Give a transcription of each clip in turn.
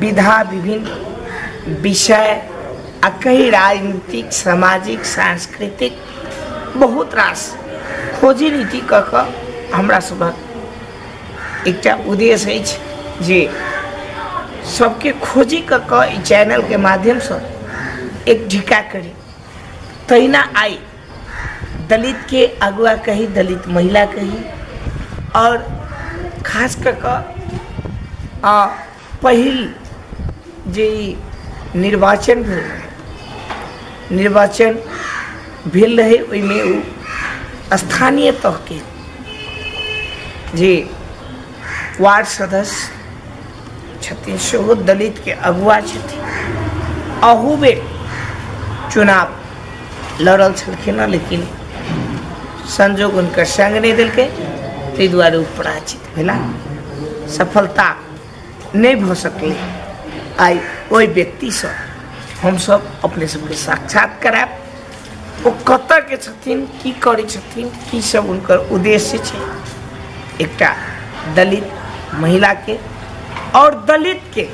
विधा विभिन्न विषय आ कई राजनीतिक सामाजिक सांस्कृतिक बहुत रास खोजी नीति कऽ कऽ हमरा सभक एकटा उद्देश्य अछि जे सबके खोजी कऽ कऽ ई चैनलके माध्यमसँ एक ढिका करी तहिना आइ दलितके अगुआ कही दलित महिला कही आओर खास कऽ कऽ आ पहिल जे ई निर्वाचन भेल रहै निर्वाचन भेल रहै ओहिमे ओ स्थानीय तहके जे वार्ड सदस्य छथिन सेहो दलितके अगुआ छथिन अहू बेर चुनाव लड़ल छलखिन हँ लेकिन संजोग हुनकर संग नहि देलकै ताहि दुआरे ओ पराजित भेला सफलता नहि भऽ सकलै आइ ओहि व्यक्तिसँ हमसभ अपने सभके साक्षात करायब ओ कतऽ के छथिन की करै छथिन की सब हुनकर उद्देश्य छै एकटा दलित महिला के और दलित के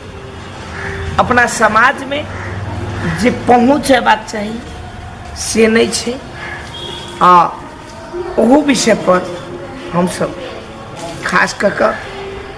अपना समाज में जे पहुँच हेबाक चाही से नहीं छै आ ओहू विषय पर हमसब खास कऽ कऽ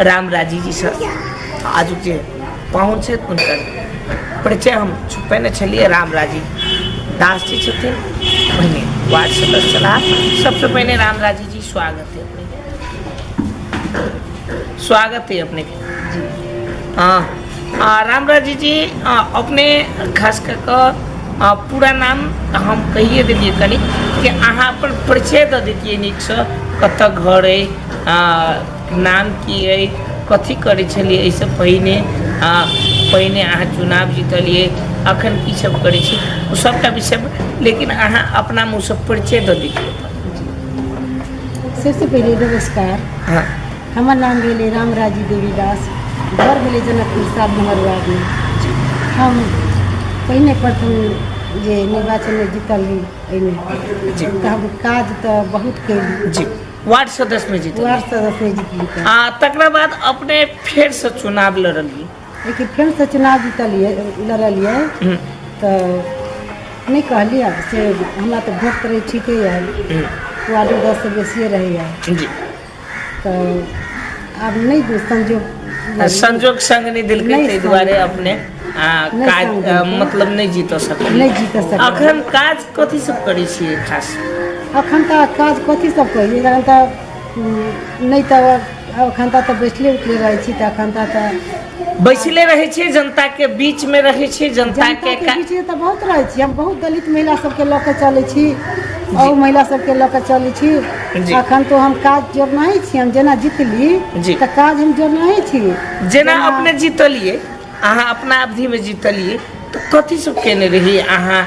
राम राजी जी सर आज जे पाहुन छथि हुनकर परिचय हम छुपेने छलियै राम राजी दास जी छथिन पहिने वार्ड सदस्य छलाह सबसँ पहिने राम राजी जी स्वागत है अपने स्वागत है अपने जी हाँ राम राजी जी अपने खास कऽ कऽ पूरा नाम हम कहिए देलियै कनि कि अहाँ अपन परिचय दऽ देतियै नीकसँ कतऽ घर अइ नाम की अइ कथी करै छलियै एहिसँ पहिने आ पहिने अहाँ चुनाव जीतलियै अखन की सब करै छी ओ सबटा विषय लेकिन अहाँ अपना मुँह से परिचय दऽ दियौ सबसे पहिले नमस्कार हाँ हमर नाम भेलै रामराजी देवी दास घर भेलै जनकपुर सात नंबर वार्डमे हम पहिने प्रथम जे निर्वाचनमे जीतल रही एहिमे तऽ हम काज तऽ बहुत कयली जी वार्ड सदस्य में जीतल वार्ड सदस्य में जीतली तऽ आ तकरा बाद अपने फेर से चुनाव लड़लिए लेकिन फेर से चुनाव जीतलिए लड़लिए तऽ नहि कहलिए से हमरा तऽ वोट करै ठीके यऽ वार्ड सदस्य बेसिए रहैए जी तऽ आब नहि दू संजोग नहि संजोग संग नहि देलकै नहि ताहि संग। दुआरे अपने आ नहि काज संग अ, देलकै। मतलब नहि जीत सकलियै नहि जीत सकलियै। अखन काज कथी सब करै छियै खास अखन तऽ काज कथी सब कहियै तखन तऽ उम, नहि तऽ एखन तऽ तऽ बैठले उठले रहै छी तऽ एखन तऽ तऽ बैसले रहै छियै जनता के बीच मे रहै छियै जनता के जनताके बीचमे तऽ बहुत रहै छी हम बहुत दलित महिला सबके लऽ कऽ चलै छी आओर महिला सबके लऽ कऽ चलै छी जी। अखन तो हम काज जोड़नाहि छी हम जेना जीतली जी। तऽ काज हम जोड़नाहि छी जेना अपने जीतलियै अहाँ अपना अवधि मे जीतलियै तऽ कथी सब केने रहियै अहाँ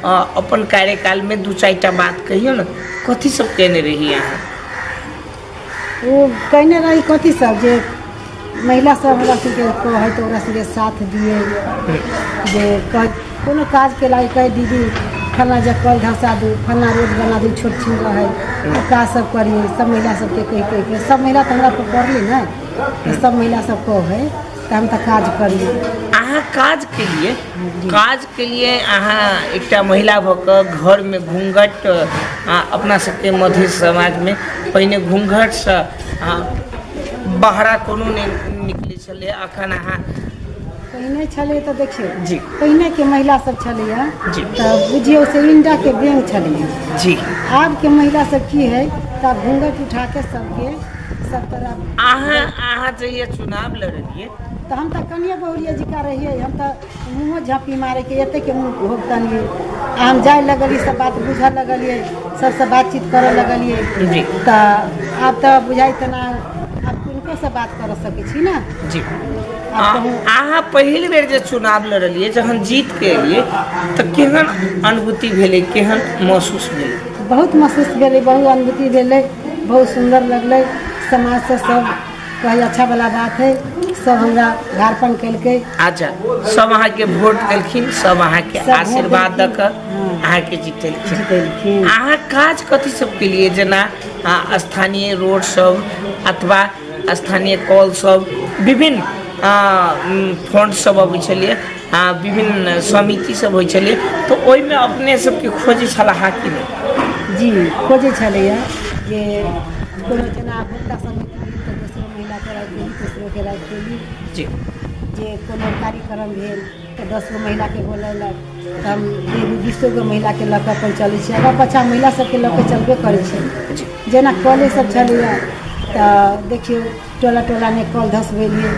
अ, अपन कार्यकाल मे दू चारि टा बात कहियौ ने कथी सब केने रहियै अहाँ ओ कहने रही कथी सब जे महिला सब हमरा सबके कहै तऽ ओकरा सबके साथ दिए जे कह- कोनो काज के लागे कहे दीदी फलना जे कल धसा दू फलना रोड बना दू छोट छीन रहे ओ काज सब करिए सब महिला सबके कहि कहि के सब महिला तऽ हमरा पर पड़ली ने तऽ सब महिला सब कहै तऽ हम तऽ काज करिए अहाँ काज के लिए काज के लिए अहाँ एकटा महिला भऽ कऽ घरमे घूँघट आ अपना सबके मध्य समाजमे पहिने घूँघटसँ अहाँ बहरा कोनो नहि निकलै छलै अखन अहाँ पहिने छलै तऽ देखियौ जी। पहिनेके महिला सब छलैया जी। तऽ बुझियौ से इंडा के बेंग छलैया जी आब के महिला सब की है तऽ घूंघट उठा के सबके सब तरह अहाँ अहाँ जहिया चुनाव लड़लियै तऽ हम तऽ कनिए बहुरिया जिका रहियै हम तऽ मुँहो झाँपी मारैके एतेक मुँह भोगतनिए आ हम जाय लगलियै सब बात बुझऽ लगलियै सबसँ बातचीत करऽ लगलियै जी तऽ आब तऽ बुझाइ तेना आब किनकोसँ बात करऽ सकै छी ने जी आब आ- कहूँ अहाँ पहिल बेर जे चुनाव लड़लियै जहन जीत के एलियै तऽ केहन अनुभूति भेलै केहन महसूस भेलै बहुत महसूस भेलै बहुत अनुभूति भेलै बहुत सुन्दर लगलै समाजसँ सब कही अच्छा वाला बात है सब हमरा झारपन कलकै अच्छा सब अहाँ के वोट देलखिन सब अहाँ के सब आशीर्वाद वोट दक देलखिन, अहाँ के जीतेलखिन जीतेलखिन। अहाँ काज कथी सब के लिए जेना आ, स्थानीय रोड सब अथवा स्थानीय कॉल सब विभिन्न आ, उम, फंड सब अबै छलिए आ विभिन्न समिति सब होइ छलै तऽ ओहिमे अपने सबके खोजै छलाह कि नहि जी खोजै छलैया जे कोनो जेना महिला समिति भेल तऽ दोसरो महिला के राखि देली तेसरो के राखि देली जी जे कोनो कार्यक्रम भेल तऽ दस गो महिला के बोलौलक तऽ हम एगो बीसो गो महिला के लऽ कऽ अपन चलै छियै आगाँ पाछाँ महिला सबके लऽ कऽ चलबे करै छियै जी जेना कले सब छलैया तऽ देखियौ टोला टोलामे कल धसबेलियै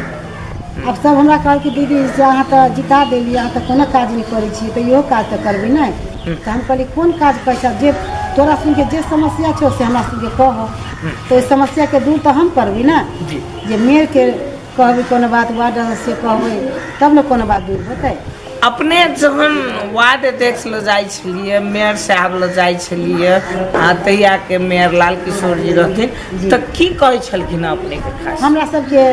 आब सब हमरा कहल कि दीदी से अहाँ तऽ जिता देलियै अहाँ तऽ कोनो काज नहि करै छियै तऽ इहो काज तऽ करबै ने तऽ हम कहलियै कोन काज करै छै जे तोरा सुनके जे समस्या छौ से हमरा सुनके कह तऽ ओहि समस्याके दूर तऽ हम करबै ने जी जे मेयरके कहबै कोनो बात वार्ड सदस्यके कहबै तब ने कोनो बात दूर होतै अपने जहन वार्ड अध्यक्ष लग जाइ छलियै मेयर साहब लग जाइ छलियै आ तहिया के मेयर लाल किशोर जी रहथिन तऽ की कहै छलखिन अपने के खास हमरा सबके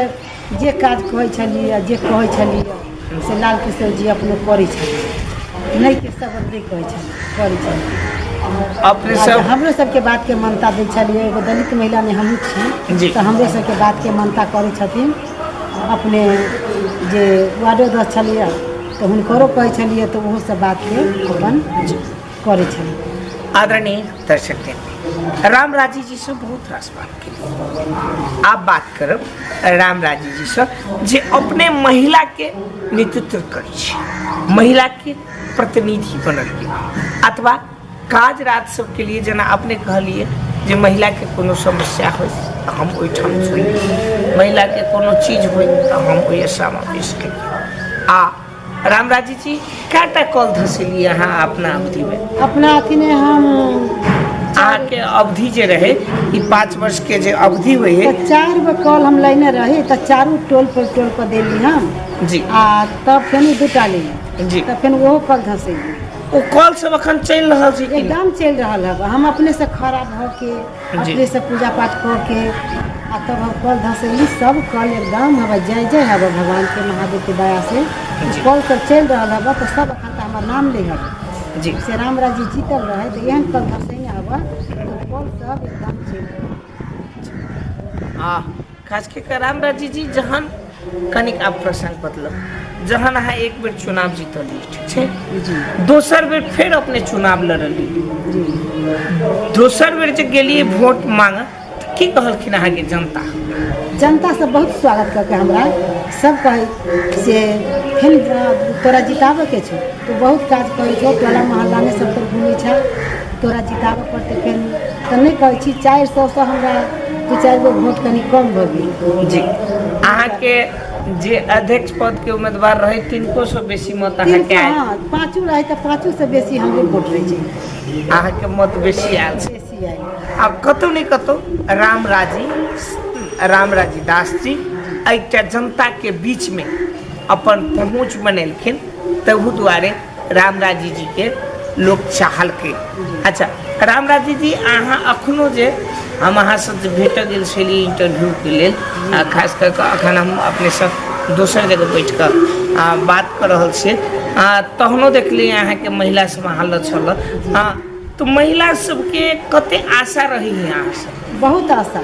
जे काज कहै छलियै जे कहै छलियै से लाल किशोर जी अपने करै छलियै नहि के सब नहि कहै छलियै करै छलियै अपने आ सब हमरो सबके बातके मान्यता दै छलियै एगो दलित महिला नहि हमहूँ जी। छी तऽ हमरो सबके बातके मान्यता करै छथिन अपने जे वार्ड अध्यक्ष छलियै तऽ हुनकरो कहै छलियै तऽ ओहो सब बात के अपन करै छलियै आदरणीय दर्शक दिन राम राजी जी से बहुत रास बात की आप बात करब राम राजी जी से जे अपने महिला के नेतृत्व करै छी महिला के प्रतिनिधि बनल अथवा काज राज सबके लिए जेना अपने कहलिए जे महिला के कोनो समस्या हो तऽ हम ओहिठाम सुनी महिला के कोनो चीज हो तऽ हम ओहि समावेश करी आ रामराजी जी कएटा कॉल धसेलिए अहाँ अपना अवधि में अपना अथी में हम अहाँके अवधि जे रहै ई पाँच वर्ष के जे अवधि होइ है तऽ चारि गो कॉल हम लेने रही तऽ चारू टोल पर टोल पर देली हम जी आ तब फेन दूटा लेली जी तऽ फेन ओहो कॉल धसेली ओ कॉल सब अखन चलि रहल छै कि एकदम चलि रहल हँ हम अपनेसँ खड़ा भऽ के जी। अपनेसँ पूजा पाठ कऽ के आ तब हम कल धसैली सब कल एकदम हबे जय जय हबे भगवानके महादेवके दयासँ जी। कल सब चलि रहल हबे तऽ सब एखन तऽ हमर नाम लै हबे जी से रामराज जी जीतल रहै तऽ एहन कल धसैने हबे तऽ कल सब एकदम चलि रहल हबे। आ खास कऽ कऽ रामराजी जी जहन कनिक आब प्रसंग बदलल जहन अहाँ एक बेर चुनाव जीतलियै ठीक छै जी दोसर बेर फेर अपने चुनाव लड़लियै जी दोसर बेर जे गेलियै वोट मांगऽ तऽ की कहलखिन अहाँके जनता जनतासँ बहुत स्वागत कऽ के हमरा सभ कहै से फेर तोरा जिताबैके छौ तू बहुत काज करै छौ टोला मोहल्लामे सभतरि घुमै छौ तोरा जिताबऽ पड़तै फेर तऽ नहि कहै छी चारि सएसँ हमरा दू चारि गो वोट कनि कम भऽ गेल जी अहाँके जे अध्यक्ष पद के उम्मीदवार रहे तिनको से बेसी मत अहाँ के आयल पाँचू रहे तऽ पाँचू से बेसी हमरे वोट रहे छै अहाँ के मत बेसी आयल छै आब कतौ ने कतौ रामराजी रामराजी दास जी एकटा जनता के बीच में अपन पहुँच बनेलखिन तहू दुआरे रामराजी जी के लोग चाहलकै अच्छा रामराजी जी अहाँ अखनो जे हम अहाँ से जे भेट गेल छली इंटरव्यू के लेल आ खास कर के अखन हम अपने से दोसर जगह बैठ कऽ आ बात कऽ रहल छी आ तहनो देखली अहाँ के महिला समाहरल छल आ तऽ महिला सबके कते आशा रहै है अहाँ सब बहुत आशा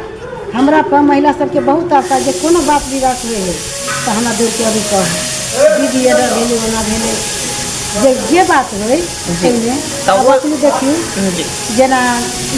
हमरा पर महिला सबके बहुत आशा जे कोनो बात विवाद हुए है तऽ हमरा दौड़के अभी कह दीदी एना भेलै ओना भेलै जे जे बात होइ एहिमे तब अपने देखियौ जी जेना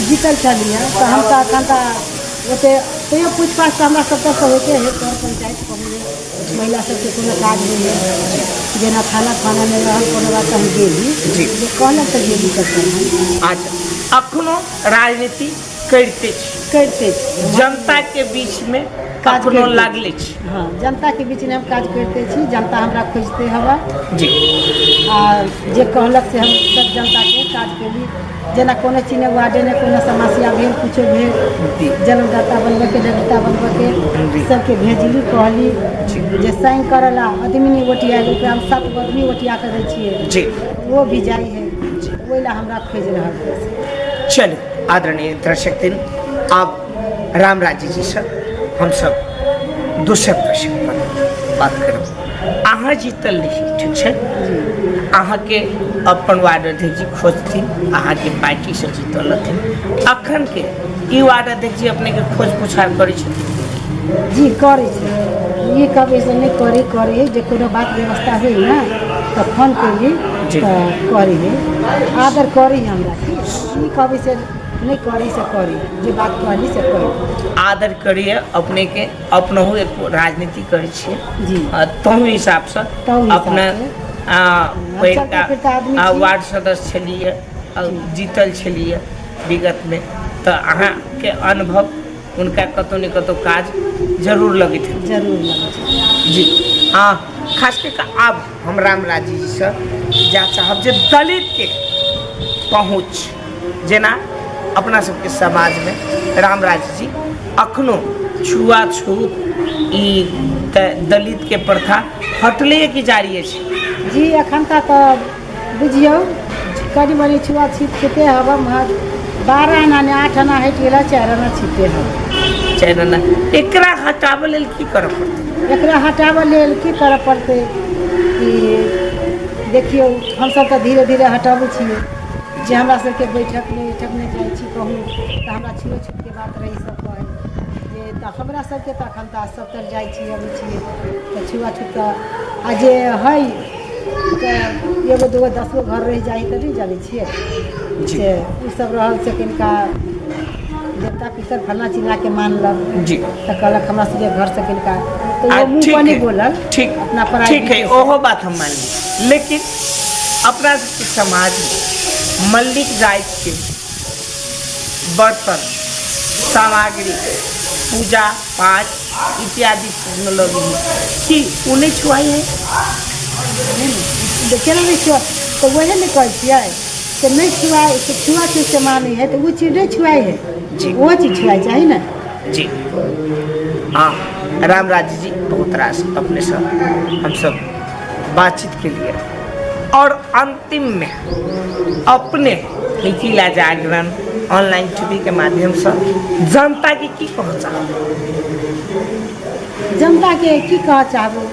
जीतल छलियै तऽ हम तऽ एखन तऽ ओते तैयो पूछ पाछ तऽ हमरा सबके होइते है सर पंचायत कहू महिला सबके कोनो काज नहि रहै जेना खाना खाना नहि रहल कोनो बात हम गेली जी जे कहलक तऽ गेली कखन अच्छा अखनो राजनीति करिते छी करिते छी जनता के बीच में कखनो लागले छी हाँ जनता के बीच में हम काज करते छी जनता हमरा खोजते हवा जी आ जे कहलक से हम सब जनता के काज केली जेना कोनो चीज नहि वार्डे नहि कोनो समस्या भेल किछो भेल जलदाता बनबैके जलदाता बनबैके सबके भेजली कहली जे साइन करऽ ला आदमी नहि ओटिया ओकरा हम सात गो आदमी ओटिया कऽ दै छियै जी वो भी जाइ है ओहि ला हमरा खोजि रहल है चलू आदरणीय दर्शक दिन आब राम राज्य जी से हम सब दोसर प्रश्न पर बात करब अहाँ जीतल लिखी ठीक छै अहाँ के अपन वार्ड अध्यक्ष जी खोजथिन अहाँ के पार्टी से जीतल रहथिन अखन के ई वार्ड अध्यक्ष जी अपने के खोज पुछार करै छथिन जी करै छै ई कहबै से नहि करै करै जे कोनो बात व्यवस्था होइ ने तऽ फोन करी जी। तऽ करी आदर करी हमरा ई कहबै से नहि करी से करी जे बात कहली से करी आदर करिए अपनेके अपनहु एक राजनीति करै छियै जी आ तहू हिसाबसँ तहू हिसाबसँ। अपना आ, हम पहिलका सबटा फिरता आदमी आ, छी। वार्ड सदस्य छलियै आ, जीतल छलियै विगतमे तऽ अहाँके अनुभव हुनका कतहु ने कतहु काज जरूर लगैत हेतै जरूर लगै छै जी आ खास कऽ कऽ आब हम रामराजी जीसँ जा चाहब जे दलितके पहुँच जेना अपना सबके समाजमे रामराजजी अखनो छुआछूत ई द- दलितके प्रथा हटले कि जारी अछि जी एखन तक तऽ बुझियौ कनि मनि छुआ छीत खेते हब हम बारह आना ने आठ आना हटि गेला चारि आना छीते हब चाहे ना एकरा हटाबै लेल की करऽ पड़तै एकरा हटाबऽ लेल की करऽ पड़तै कि देखियौ हमसभ तऽ धीरे धीरे हटाबै छियै जे हमरा सबके बैठकमे उठकमे जाइ छी कहू तऽ हमरा छुओ छूतके बात रहै सब कहै जे तऽ हमरा सबके तऽ एखन तऽ सब तरि जाइ छी अबै छी तऽ छुआ छूत तऽ आ जे हइ तऽ एगो दूगो दसगो घर रहि जाइ तऽ नहि जानै छियै जी। से ओ सब रहल से किनका देवता पितर फल्ला चिल्लाके मानलक जी तऽ कहलक हमरा सबके घर से किनका तऽ आ, ओ मुँह ठीक पर है, नहीं बोलल ठीक अपना पराई ठीक है बीवी से। ओहो बात हम मान ली लेकिन अपना समाजमे मल्लिक जाइतके बर्तन सामग्री पूजा पाठ इत्यादि चीजमे लगै हइ कि ओ नहि छुआइ हइ जे केना नहि छुआ तऽ ओहे ने कहै छियै से नहि छुआ से छुआ छूत से मानै हइ तऽ ओ चीज नहि छुआइ हइ जी। ओहो चीज छुआइ चाही ने जी हँ रामराज जी बहुत रास अपनेसँ हमसभ बातचीत केलियै आओर अन्तिममे अपने Mithila Jagran online T V के माध्यमसँ जनताके की कहऽ चाहब जनताके की कहऽ चाहबै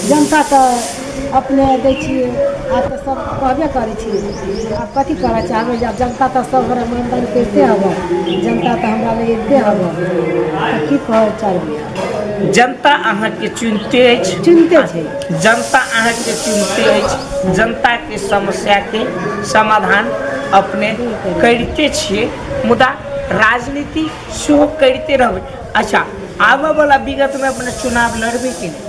जनता तऽ अपने दै छियै आब तऽ सब कहबे करै छी आब कथी कहऽ चाहबै जे आब जनता तऽ सब गोरे मानि तानि करिते हबऽ जनता तऽ हमरा लग अबिते हबऽ तऽ की कहऽ चाहबै जनता अहाँके चुनिते अछि चुनिते छै जनता अहाँके चुनिते अछि जनताके समस्याके समाधान अपने करिते छियै मुदा राजनीति सेहो करिते रहबै अच्छा आबऽवला विगतमे अपने चुनाव लड़बै कि नहि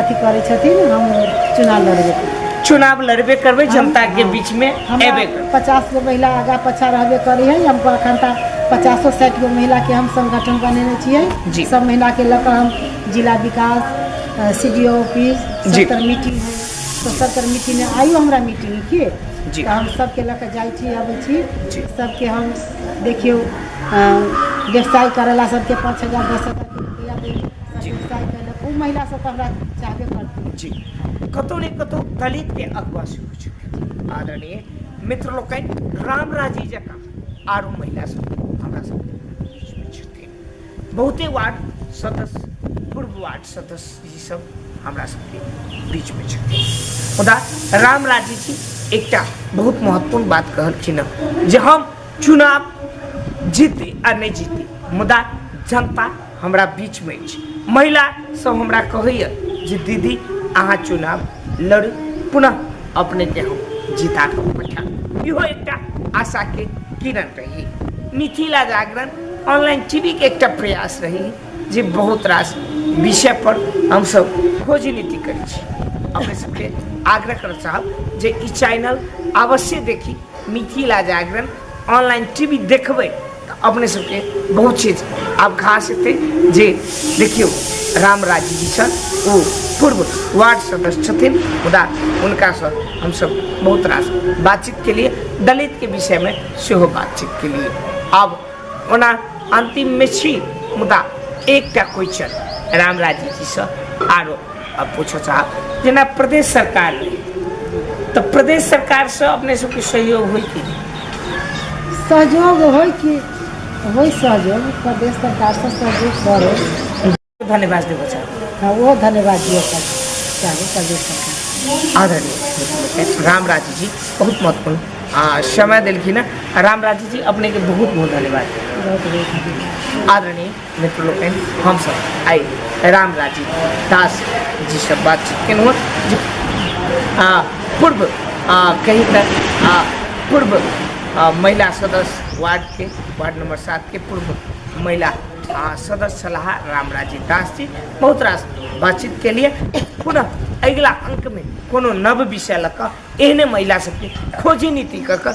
अथी करै छथिन हम चुनाव लड़बे करबै चुनाव लड़बे करबै जनता के बीच में एबे करबै पचास गो महिला आगा पछा रहबे करी है हमको अखन तक पचासो साठि गो महिला के हम संगठन बनेने जी। छियै सब महिला के लऽ कऽ हम जिला विकास सी डी ऑफिस जी। सत्तर मीटिंग है तो सत्तर मीटिंग में आयु हमरा मीटिंग की जी। तऽ हम सबके लऽ कऽ जाइ छी अबै छी जी। सबके हम देखियौ अ, व्यवसाय करेला सबके पाँच हजार दस हजार के रुपैआ देली हमरा जी गिरफ्तार कयलक ओ महिला सब तऽ हमरा चाहबे करतै जी कतहु ने कतहु दलित के अगुआ सेहो छथिन आदरणीय मित्र लोकनि राम राजी जकाँ आरो महिला सब हमरा सबके छथिन बहुते वार्ड सदस्य पूर्व वार्ड सदस्य जी सब हमरा सबके बीच में छथिन मुदा राम राजी जी एकटा बहुत महत्वपूर्ण बात कहलखिन हँ जे हम चुनाव जीती आ नहि जीती मुदा जनता हमरा बीचमे अछि महिला सब हमरा कहैए जे दीदी अहाँ चुनाव लड़ू पुनः अपनेके हम जिता कऽ पठाएब इहो एकटा आशाके किरण रही मिथिला जागरण ऑनलाइन टीवीके एकटा प्रयास रही जे बहुत रास विषय पर हमसब खोजी नीति करै छी अपने सबके आग्रह करऽ चाहब जे ई चैनल अवश्य देखी मिथिला जागरण ऑनलाइन टीवी देखबै अपने सबके बहुत चीज आब खास हेतै जे देखियौ रामराजी जी छल ओ पूर्व वार्ड सदस्य छथिन मुदा हुनकासँ हमसब बहुत रास बातचीत के लिए दलित के विषय में सेहो बातचीत के लिए आब ओना अंतिम में छी मुदा एकटा क्वेश्चन रामराजी जी से आरो आब पूछऽ चाहब जेना प्रदेश सरकार तऽ प्रदेश सरकारसँ अपने सबके सहयोग होइ कि सहयोग होइ कि होइ सहयोग प्रदेश सरकारसँ सहयोग करै धन्यवाद देबऽ चाहब हँ ओहो धन्यवाद दिअ चाहबै प्रदेश सरकार आदरणीय रामराज जी बहुत महत्वपूर्ण आ समय देलखिन हँ रामराज जी अपनेके बहुत बहुत धन्यवाद बहुत बहुत धन्यवाद आदरणीय मित्र लोकनि हमसभ आइ राम राजीव दास जीसँ बातचीत केलहुँ हँ जे आ, पूर्व आ, कही तऽ आ, पूर्व आ, महिला सदस्य वार्डके वार्ड नंबर सातके पूर्व महिला आ, सदस्य सलाह राम राजीव दास जी बहुत रास बातचीत के लिए पुनः अगिला अंकमे कोनो नव विषय लऽ कऽ एहने महिला सबके खोजी नीति कऽ कऽ